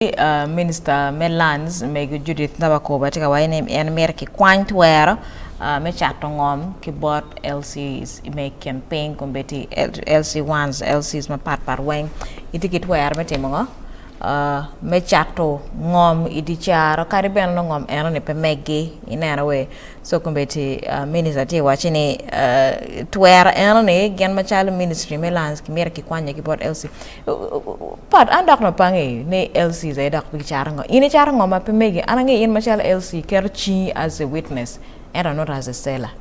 Minista me Lands mego Judith Nabakoba tye ka waco ni en mito kikwany twero me cato ngom ki bot LCs me i kin piny kun bene tye i LC ones, LCs mapat pat weng. Itye ki twero me timo ngo? me cato ngom i dye caro kadi bed nongo ngom eno ni pe meggi ineno wee. Sokombeti Minister tye wacci ni twero eno ni gin macalo Ministry me Lands kimito ki kwanye ki bot LC. Pat an dok no pangi ni LC za dok bi caro ngo? In icaro ngo ma pe megi? An angi in macalo LC keto cingi as a witness ento not as a seller.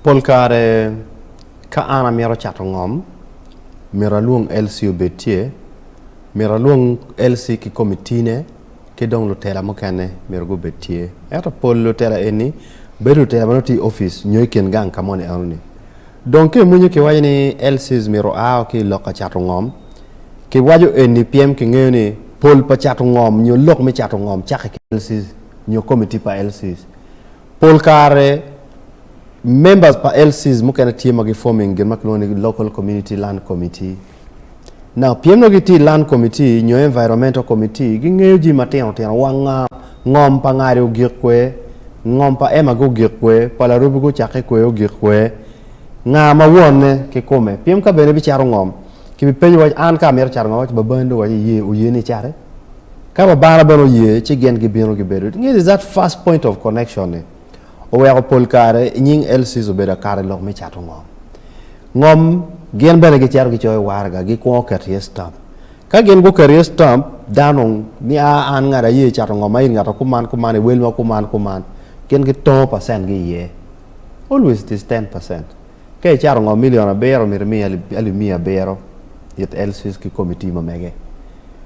Pol kare ka an amito cato ngom mito alwong LC obed tye, mito alwong LC ki komitine. ki dong lutela mukene myero gubed tye. Ento pol lutela eni bedo lutela ma nongo tye i opic nyo i kin gang ka moni enoni. Dong ka imwinyo kiwaco ni LCs myero oa ki i lok ka cato ngom, kiwaco eni pien kingeyo ni pol pa cato ngom nyo lok me cato ngom cake ki LCs nyo komiti pa LCs. Pol kare, members pa LCs mukene tye ma gi-forming gin ma kilwongo ni Local Community Land Committee. Now, pien nongo gitye i Land Committee nyo Environmental Committee, gingeyo jami matino tino wa nga, ngom pa ngadi ogik kwe, ngom pa ema gugik kwe, pa larubi gucakke kwe ogik kwe, nga ma wonne ki kome. Pien ka bene ibicato ngom, kibipenyi waci, an ka amito cato ngom, waci babani dong waci iye, oye ni icate? Ka Lubanga bene oye ci gin gibino gibedo it. Nge ni that first point of connection ni oweko pol kare i nying LCs obedo akato i lok me cato ngom. Ngom gin bene gicito gicoyo waraga gikwongo keto iye stamp. Ka gin guketo iye stamp dano ni a an ngat aye cato ngom ma in ngat ma kuman kuman i wel ma kuman kuman gin gitongo percent gi iye always it is ten percent. Ka icato ngo milion abiro, myero imiya alip miya abiro it LCs ki komiti ma mege.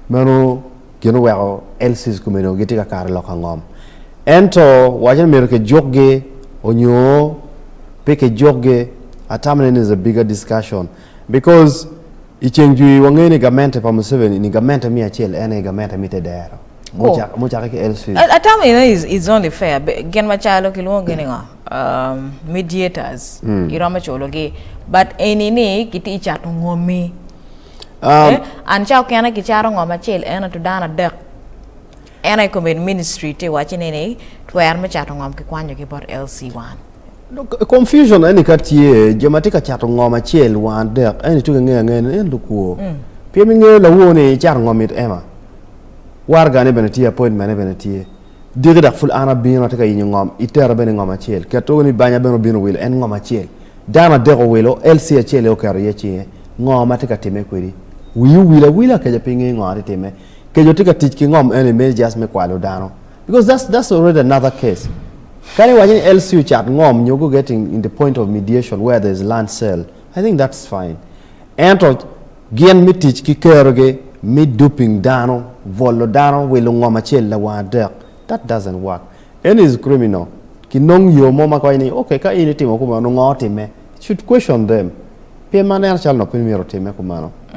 Meno gin oweko LCs komeni onongo gitye ka kato i lok angom. Ento wacce ni myero kijukgi onyo pe kijukgi, atamane ni is a bigger discussion because i ceng jwi wangeyo ni gamente pa Museveni ni gamente miya acel en aye gamente mi te dero. Mucakke ki LCs. Atamane ni is only fair. Gin macalo kilwongo gi ni ngo? mediators iromo culo gi but eni ni kiti cato ngomi um, eh, an ca okene ki caro ngom acel en atu dano adek en aye commit ministry ti waci ni ni twer me cato ngom ki kwanyo ki bot LC wan confusion eni ka tye jo ma ti ka cato ngom acel wan adek eni tu kingeyo angeya ni en lukwo mm. pien ingeyo lawo ni icato ngom it ema wargane bene tye appointment bene tye Dyegi dok pud an abino, atye ka yenyo ngom, itera bene i ngom acel. Ket woko ni banya bene obino wilo en ngom acel. Dano adek owilo, LC acel aye oketo iye cinge. Ngo ma atye ka timme kwedi? Wii owil awila keca pe ingeyo ngo atye timme. Keco tye ka tic ki ngom eni meno just me kwalo dano. Because that's, that's already another case. Kadi iwaco ni LC ocat ngom nyo guget in, in the point of mediation where there's land sale, I think that's fine. Ento Gin me tic ki kerogi me duping dano, bwolo dano wi lungom acel lawang adek, that doesn't work. Eno is criminal. Ki nong yo mo ma konye ni, okay ka in itimo kumeno nongo otime? It should question them. Pien mano neno calo nongo pe myero otime kumeno.